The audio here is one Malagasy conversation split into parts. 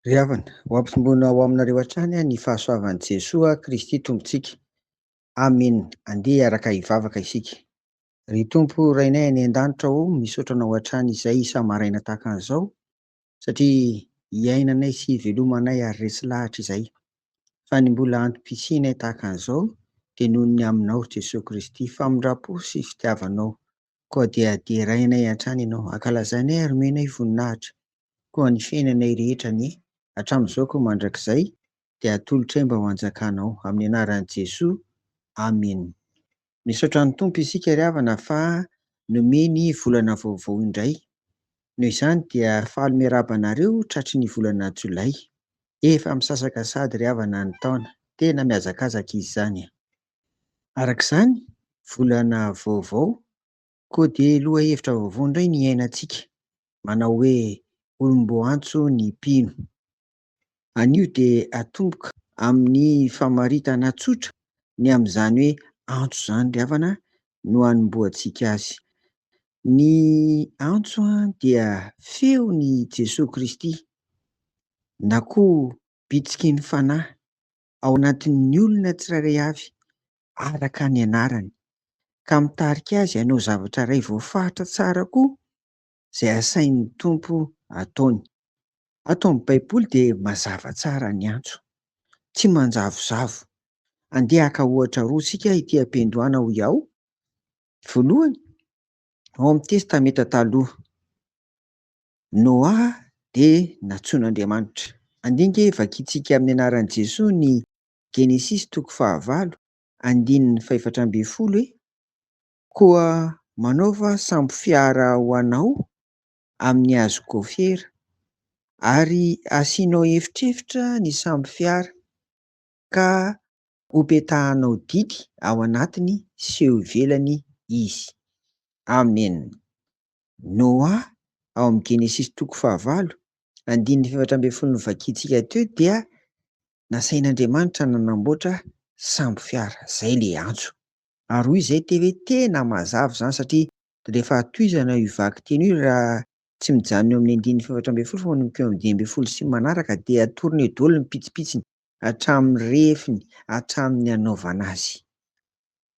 Ry havana, ho ampitomboina ao aminareo hatrany ny fahasoavan'i Jesoa Kristy Tompontsika. Amen. Andeha hiaraka hivavaka isika. Ry Tompo Rainay any an-danitra ô, misaotra Anao hatrany izay isa-maraina tahaka an'izao, satria iainanay sy ivelomanay ary resy lahatra izay, fa ny mbola antom-pisianay tahaka an'izao dia noho ny Aminao, Jesoa Kristy, famindram-po sy fitiavanao, koa dia derainay hatrany Ianao, hankalazainay ary omenay voninahitra, koa ny fiainanay rehetra anie, hatramin'izao koa mandrakizay, dia atolotray mba ho anjakanao. Amin'ny anaran'i Jesoa, Amen. Misaotra ny Tompo isika ry havana fa nomeny volana vaovao indray. Noho izany dia faly miarahaba anareo tratry ny volana jolay. Efa misasaka sahady ry havana ny taona. Tena mihazakazaka izy izany a! Araka izany, volana vaovao, koa dia lohahevitra vaovao indray ny iainantsika, manao hoe olom-boantso ny mpino. Anio dia atomboka amin'ny famaritana tsotra ny amin'izany hoe antso izany ry havana no hanombohantsika azy. Ny antso dia feon'i Jesoa Kristy na koa bitsiky ny Fanahy ao anatin'ny olona tsirairay avy araka ny anarany ka mitarika azy hanao zavatra iray voafaritra tsara koa izay asain'ny Tompo ataony. Ato amin'ny Baiboly dia mazava tsara ny antso. Tsy manjavozavo. Andeha haka ohatra roa isika ity am-piandohana hoy aho. Voalohany, ao amin'ny Testamenta Taloha, Noa dia nantsoin'Andriamanitra. Andinge vakintsika amin'ny anaran'i Jesoa ny Genesisy toko fahavalo, andininy fahefatra ambin'ny folo e. Koa manaova sambo fiara ho anao amin'ny hazo gôfera, ary asianao efitrefitra ny sambo fiara, ka hopetahanao didy ao anatiny sy eo ivelany izy. Amen. Noa, ao amin'ny Genesisy toko fahavalo, andininy efatra ambin'ny folo novakiantsika teo dia nasain'Andriamanitra nanamboatra sambo fiara. Izay ilay antso. Ary hoy izay teo hoe tena mazava izany satria rehefa tohizana io vaky teny io raha tsy mijanona eo amin'ny andininy fahefatra ambin'ny folo fa manomboka eo amin'ny dimy ambin'ny folo sy ny manaraka dia atorony eo daholo ny pitsipitsiny hatramin'ny refiny hatramin'ny hanaovana azy.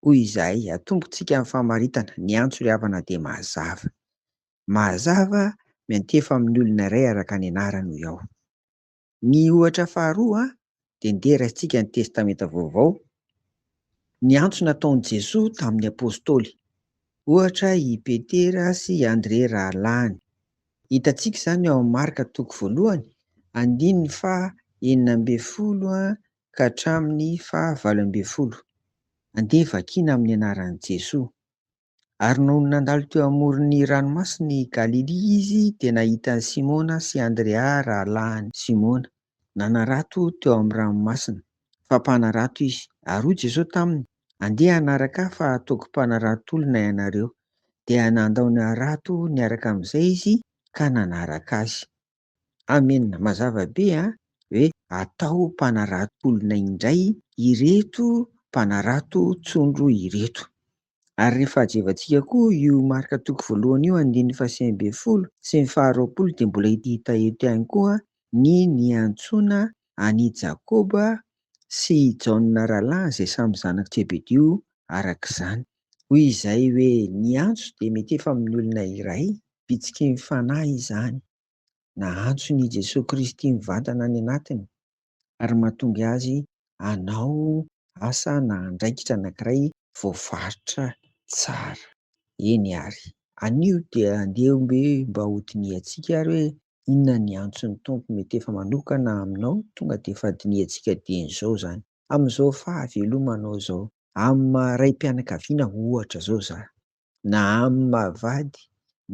Hoy izahay atombontsika amin'ny famaritana, ny antso ry havana dia mazava. Mazava miantefa amin'ny olona iray araka ny anarany hoy aho. Ny ohatra faharoa dia ndeha raisitsika ny Testamenta Vaovao, ny antso nataon'i Jesoa tamin'ny Apôstôly, ohatra i Petera sy i Andrea rahalahiny. Hitantsika izany ao amin'ny Marka toko voalohany, andininy faha enina ambin'ny folo ka hatramin'ny faha valo ambin'ny folo. Andeha vakina amin'ny anaran'i Jesoa. Ary nony nandalo teo amoron'ny ranomasin'i Galilia izy, dia nahita an'i Simona sy Andrea rahalahiny. Simona. Nanarato teo amin'ny ranomasina, fa mpanarato izy. Ary hoy Jesosy taminy, Andeha hanaraka ahy, fa hataoko mpanaratolona ianareo. Dia nandao ny harato niaraka amin'izay izy, ka nanaraka azy. Amen mazava be a! Hoe atao mpanarato olona indray ireto mpanarato tsondro ireto. Ary rehefa hajevantsika koa io marka toko voalohany io andininy faha sivy ambin'ny folo sy ny faha roapolo dia mbola hita eto ihany koa ny niantsoana an' i Jakoba sy i Jaona rahalahiny izay samy zanak'i Jebedio araka izany. Hoy izay hoe niantso dia mety efa amin'ny olona iray bitsikin'ny Fanahy izany. Nahantsony i Jesoa Kristy mivantana any anatiny ary mahatonga azy hanao asa na andraikitra anankiray voafaritra tsara. Eny àry, anio dia andeha hoe mba hodinihantsika àry hoe inona ny antson'ny Tompo mety efa manokana aminao tonga dia efa dinihantsika dieny izao izany. Amin'izao fahavelomanao izao amin'ny maha raim-pianakaviana ohatra izao izany. na amin'ny maha vady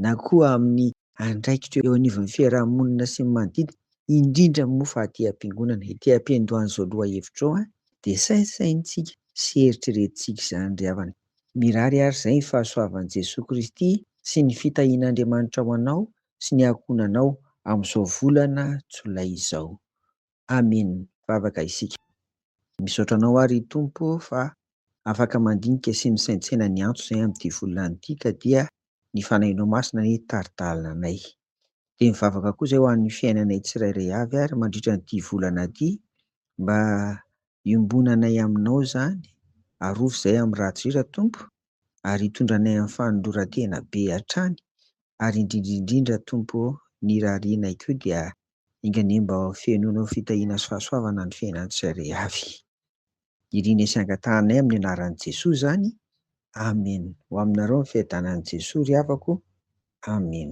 na koa amin'ny andraikitra eo anivon'ny fiarahamonina sy ny manodidina, indrindra moa fa aty am-piangonana, ity ampiandohan'izao lohahevitra izao dia saintsaintsika sy eritreretintsika izany ry havana. Mirary àry izay ny fahasoavan'i Jesoa Kristy sy ny fitahian'Andriamanitra ho anao sy ny ankohonanao amin'izao volana jolay izao. Amen vavaka isika. Misaotra anao ary ry Tompo fa afaka mandinika sy misaintsaina ny antso izay amin'ity volana ity ka dia ny fanahinao masina anie tari-dalana anay. Dia mivavaka koa izay ho an'ny fiainanay tsirairay avy ary mandritra an'ity volana ity mba iombonanay aminao izany, arovy izay amin'ny ratsy ry Tompo ary hitondra anay amin'ny fanoloran-tena be hatrany ary indrindra indrindra Tompo ô ny irarianay koa dia Enga anie mba fenoina ho fitahiana sy fahasoavana ny fiainantsika reavy. Irina sy angatahanay amin'ny anaran'i Jesoa izany. Amen. Ho aminareo ny fiadanan'i Jesoa ry havako. Amen.